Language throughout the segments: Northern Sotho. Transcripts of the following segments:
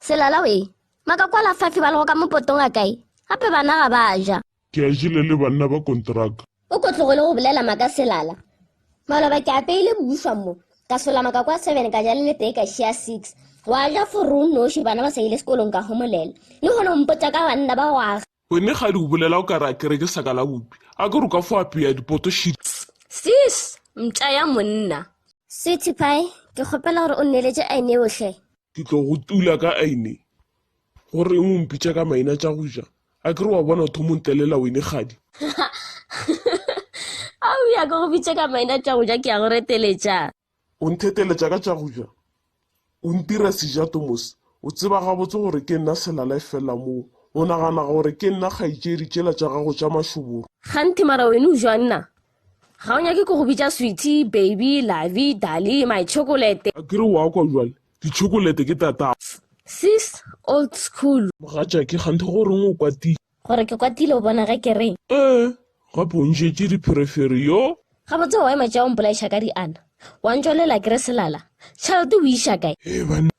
Selala we, maka kwa la fafi ba lego ka mopotong a kae, gape bana ga ba ja. Ke a jile le banna ba kontraka. O ko tlogele go bolela maka Selala. Maloba ke apeile boušwa mo, ka sola maka kwa seven ka ja le le tee ka šea six. Wa ja for o noši bana ba sa ile sekolong ka homolela. Le gona o mpotša ka banna ba go aga. Wene kgadi o bolela o ka re a kereke sa ka la bupi. A ke re o ka fo apeya dipoto šidi. Sis, mpša ya monna. Sweetie pie, ke kgopela gore o nneletše aene yohle. Ke tlo go tula ka aine. Go reng o mpitša ka maina tša go ja? A ke re wa bona o thomo ntelela wene kgadi. A o ya ke go bitše ka maina tša go ja ke ya go reteletša. O ntheteletša ka tša go ja? O ntira seja Thomas. O tseba gabotse gore ke nna selala efela moo. O nagana gore ke nna kgaetšedi tšela tša gago tša mašoboro. Kganthe mara wene o jwa nna? ga o nyake ko go bitša swithy baby lavi dali my chocolate a kere wa kwa jwale dichokolete ke tata sis old school mogatšake gante go reng o kwatile gore ke kwatile o bona ge ke re ee gape o ntšetše dipherefere yo ga botse wa ema tša o mpolaiša ka diana wa ntšwalela ke re selala tšhalete o iša kae ee banna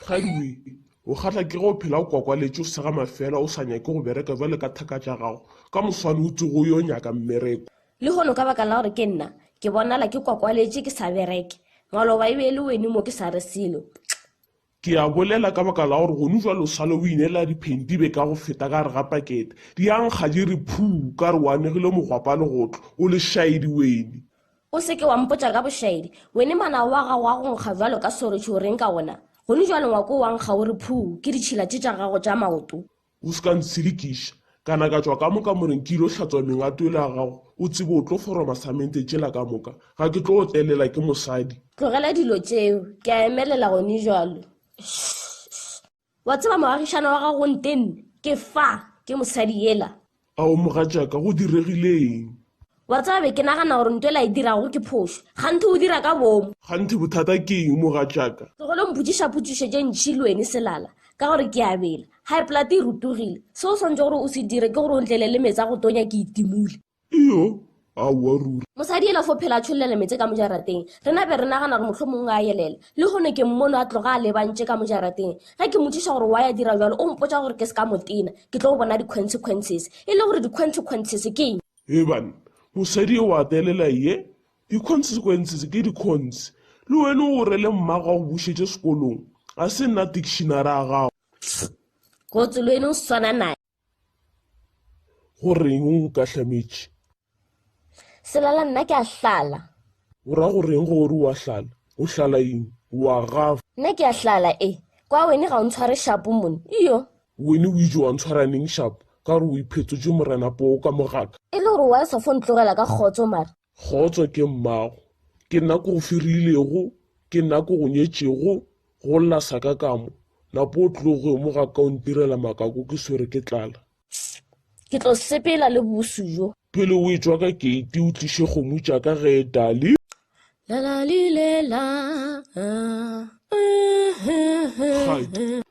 Kgadiwe, o kgatla ke ge o phela o kwakwaletše, o sega mafeela, o sa nyake go bereka bjalo ka thaka tša gago. Ka moswane o tsoge o yo nyaka mmereko. Lehono ka baka la gore ke nna, ke bonala ke kwakwaletše ke sa bereke. Ngwalo wa Baebele o eme mo ke sa re selo. Kxi. Ke a bolela ka baka la gore gonu jwale o sale o inela diphentibe ka go feta ka gare ga pakete. Di a nkga di re phuu ka re o anegile mogwapa legotlo. O lešaedi wene. O se ke wa mpotša ka bošaedi. Wene manao wa gago a go nkga jwalo ka soretšhe o reng ka wona? Gonu jwale ngwako o a nkga o re phuu ke ditšhila tše tša gago tša maoto. O se ka ntshilikiša. Ka na ka tšwa ka moka moreng ke il'o hlatswa mengato yela ya gago, o tsebe o tlo foroma samente tšela ka moka. Ga ke tlo otlelela ke mosadi. Tlogela dilo tšeo. Ke a emelela gonejalo. Shh-shh-shh. Wa tseba moagišana wa gago o ntenne? Ke fa, ke mosadi yela. Ao mogatšaka, go diregile eng? Wa tseba, be ke nagana gore nto e la e dirago ke phošo. Kganthe o dira ka boomo. Kganthe bothata ke eng, mogatšaka? Tlogele go mpotšiša potšišo tše ntši, Lweni Selala, ka gore ke a bela. High blood e rutogile. Seo o swanetšego gore o se dire ke gore o ntlele le meetse a go tonya ke itimule. Iyo, Aowa ruri. Mosadi ela fo phela a tšhollela meetse ka mo jarateng. Rena be re nagana gore mohlomongwe a yelela. Lehono ke mmono a tloga a lebantše ka mo jarateng. Ge ke motšiša gore why a dira bjalo, o mpotša gore ke se ka mo tena, ke tlo bona di-consequences. E le gore di-consequences ke eng? Eban, mosadi eo a thelela ye, di-consequences ke di-cons. Le wena o rele mmago a go bušetše sekolong. Ga se nna dictionary ya gago. Tss! Go tsoloe ne o swana nae. Go reng o nkahlametše? Selala nna ke a hlala. O ra go reng ge o re o a hlala? O hlala eng? O a gafa. Nna ke a hlala e. Kwa wene ga o ntshware shapo mone. Iyo. Wene o itše wa ntshwara neng shapo? Ka gore o iphetotše Morena poo ka mo ga ka. E le gore wa eswa fo ntlogela ka kgotso mara. Kgotso ke mmago. Ke nna ke go firilego, ke nna ke go nyetšego go lla saka ka mo, napa o tlo go mo ga ka o ntirela makako ke swere ke tlala. Ss, Ke tlo sepela le bosu bjo. Pele o etšwa ka keiti o tliše kgomo tša ka ge Dali. La la li le la, ah, ah, ah, ah, ah.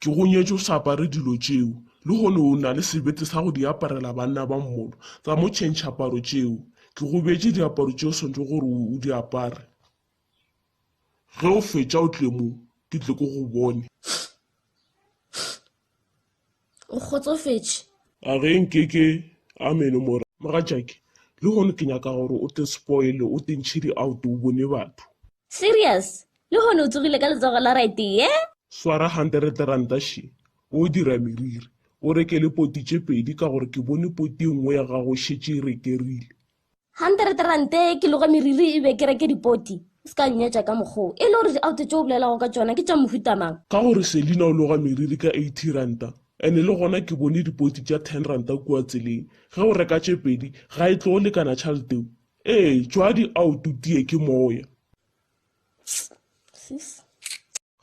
Ke go nyetše o sa apare dilo tšeo, lehono o na le sebete sa go di aparela banna ba mmolo. Tsa mo tšhentšha aparo tšeo. Ke go beetše diaparo tše o swanetšego gore o di apare. Ge o fetša o tle mo, ke tle ke go bone. O kgotsofetše? A ge nke ke. Amene, mora. Mogatšake, lehono ke nyaka gore o te spoile, o te ntšhe di-out o bone batho. Serious? Lehono o tsogile ka letsogo la raetee. Swara hanterete ranta she, o dira meriri. O reke le poti tše pedi ka gore ke bone poti e nngwe ya gago e šetše e rekerile. Hanterete rante, ke loga meriri e be ke reke dipoti. O se ka nnyetša ka mokgwa wo. E le gore diauto tše o bolelago ka tšona ke tša mohuta mang? Ka gore Selina o loga meriri ka eighty ranta and le gona ke bone dipoti tša ten ranta kua tseleng. Ge o reka tše pedi ga e tlo lekana tšhalete yeo? Ee, tšwa diauto tee ke moya.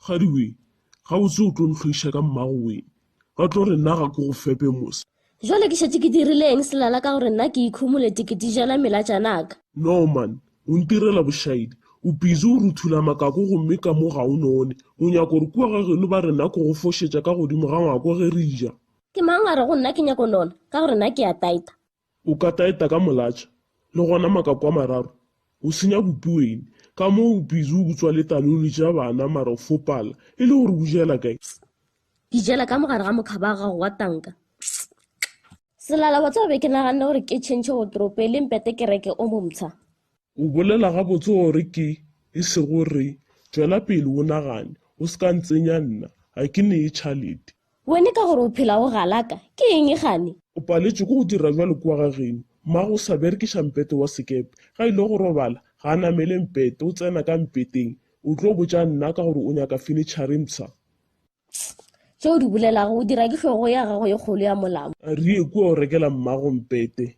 Kgadiwe, gabotse o tlo ntlhoiša ka mmago wee. Ba tlo re nna ga ke go fepe mos. Jwale ke šetše ke dirile eng selala ka gore nna ke ikhumole teketijana melatšanaka? No man, o ntirela bošaedi. O busy o ruthula makako gomme ka mo ga o none. O nyaka gore kua ga geno ba re nna ke go fošetša ka godimo ga ngwako ge re ja? Ke mang a re go nna ke nyako nona ka gore nna ke a taita? O ka taeta ka molatša, le gona makako a mararo, o senya bupi wene. Ka mo o busy o butswa le taloli tša bana mara o fopala e le gore o jela kae. Tss. Ke jela ka mo gare ga mokhaba wa gago wa tanka. Tss. Selala, wa tseba be ke naganne gore ke tšhentšhe wotropo e leng pete ke reke o momtsha. O bolela gabotse gore ke, e sego re. Tšwela pele o nagane, o se ka ntsenya nna, ga ke neye tšhalete. Wene ka gore o phela go galaka, ke eng gane? O paletšwe ke go dira jwalo kua ga geno. Mmago o sa berekiša mpete wa sekepe. Ga ile go robala, ga a namele mpete, o tsena ka mpeteng. O tlo botša nna ka gore o nyaka fenitšhare mpsha. Tss. Tše o di bolelago o dira ke hlogo ya gago e kgolo ya molamu. A rie kua o rekela mmago mpete.